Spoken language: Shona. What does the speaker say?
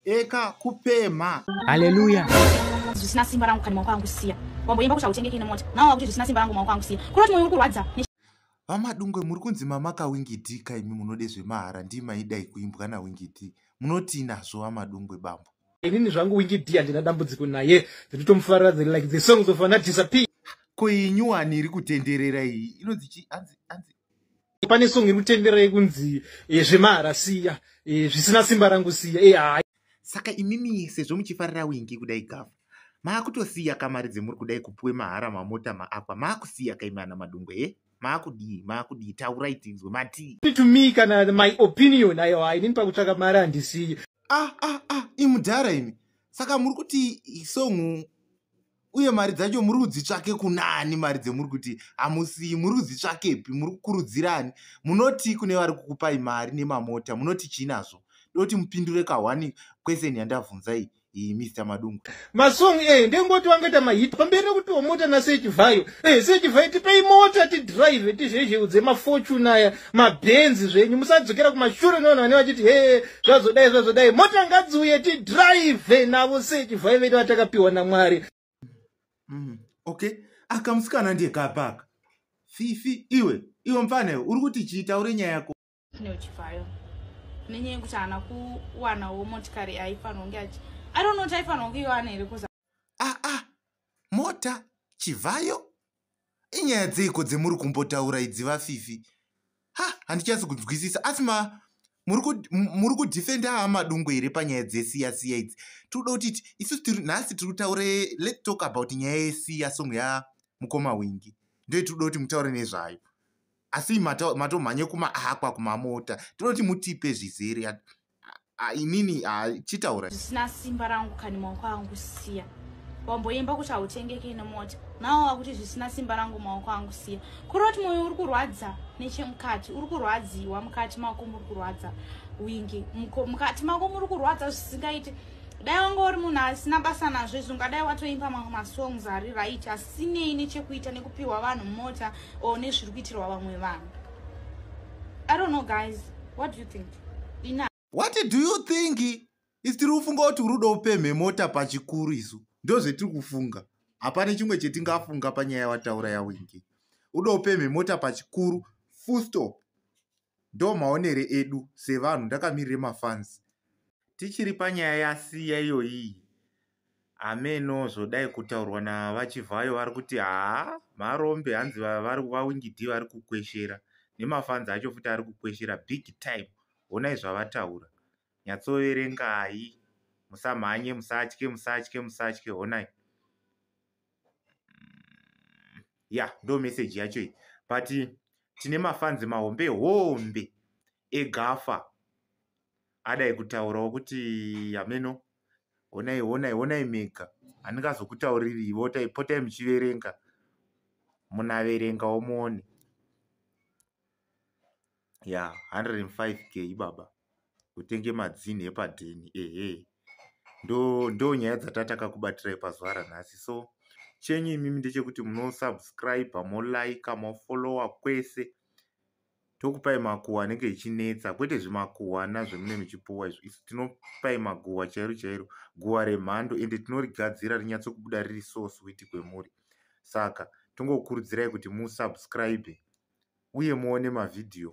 eka kupemha haleluya zvisina simba rangu kani maoko angu siya wamboimba kuti hautengeki ine mota nawo wakuti zvisina simba rangu maoko angu siya kuroti moyo uri kurwadza vamadungwe muri kunzi mamaka wingidi ka imi munode zvemahara ndii maidai kuimbwa nawingidi munotii nazvo vamadungwe bambo inini zvangu wingidi handina dambudziko naye ndinotomufarira the like the songs of anadisappear ko iyi nyuwani iri kutenderera iyi inonzi chi anzi anzi pane song iri kutendera yekunzi eh, zvemahara siya eh, zvisina simba rangu siya eh, hai saka imimi sezvo muchifarira wingi kudai gava maakutosiya kamari dzemuri kudai kupuwe mahara mamota maakwa maakusiya kaimana madungwe he maakudii maakudii taurai tinzwe matii to me kana my opinion ayo hainini pakutsvaka mari handisiye ah ah ah imudhara imi saka muri kuti isongu uye mari dzacho muri kudzitsvake kunaani mari dzemuri kuti hamusiyi muri kudzitsvakepi muri kukurudzirani munoti kune vari kukupai mari nemamota munoti chii nazvo doti mupindure kahwani kweseni yandabvunzai iyi mr madungu masong e eh, ndengoti vangaita mahit pamberi nekutiwa mota nasechivayo e eh, sechivayo tipei mota tidrive tizvezheudze mafortune aya mabenzi zvenyu musadzokera kumashure nevanhu vane vachiti hee zvazodai zvazodai mota ngadziuye tidrive navo sei chivhai vedu vatakapiwa namwari mm, okay aka musikana ndiye kapaka fifi iwe iwe mfana iwe uri kuti chiitaure nyaya yako neuchivhayo nenyaya yekuti haana kuwanawo motikari aifanira kunge achi i don't know kuti aifanira kunge iwana here kuza aa ah, ah, mota chivhayo inyaya dzeiko dzemuri kumbotaura idzi vafifi ha handichasi kunzwisisa asi ma muri kudefenda amadungo here panyaya dzesiya siya idzi tiri kuda kuti isusu tiri nhasi tiri kutaura let talk about nyaya yesiya song ya mukoma wingi ndoyo tiri kuda kuti mutaure nezvayo asi matomhanye kumaakwa kumamota tinoda kuti mutipe zvizere inini chitaura zvisina simba rangu kani maoko angu siya wamboimba kuti hautengeke nemota nawo wakuti zvisina simba rangu maoko angu siya kuri kuti mwoyo uri kurwadza nechemukati uri kurwadziwa mukati mako muri kurwadza wingi mukati mako muri kurwadza zvisingaite dai wanga uri munhu asina basa nazvo izvi ungadai watoimba mamwe masongs ari right asinei nechekuita nekupiwa vanhu mota or nezviri kuitirwa vamwe vanhu i don't know guys what do you think what do you think isi tiri kufunga kuti uri uda upemhe mota pachikuru isu ndo zvetiri kufunga hapane chimwe chetingafunga panyaya yawataura yawingi uda upemhe mota pachikuru full stop ndo maonere edu sevanhu ndakamirire mafans tichiri panyaya yasiya iyoyii Hameno zvodai kutaurwa naVaChivhayo vari kuti haa marombe hanzi vaWingidee vari kukweshera nemafanzi acho futi ari kukweshera big time. Honai zvavataura. Nyatsoverengai. Musamhanye, musatye, musatye, musatye. Honai. Mm, ya, ndo meseji yacho iyi. But tine mafanzi mahombe hombe egafa. adai kutaurawo kuti hameno honai honai honai mega handingazokutauririvo potai muchiverenga munaverengawo muone ya 105 k ibaba kutenge madzini epadheni ehe ndo ndo nyaya dzatataka kubatirai pazuva ranhasi so chenyu imimi ndechekuti munosubscribe molike mofollowa kwese tokupai makuhwa anenge ichinetsa kwete zvimakuhwana zvemune michipuwa izvo isu tinopai maguhwa chairo chairo guhwa remhando ende tinorigadzira rinyatsokubuda riri so sweet kwemuri saka tongokurudzirai kuti musubscribe uye muone mavhidhiyo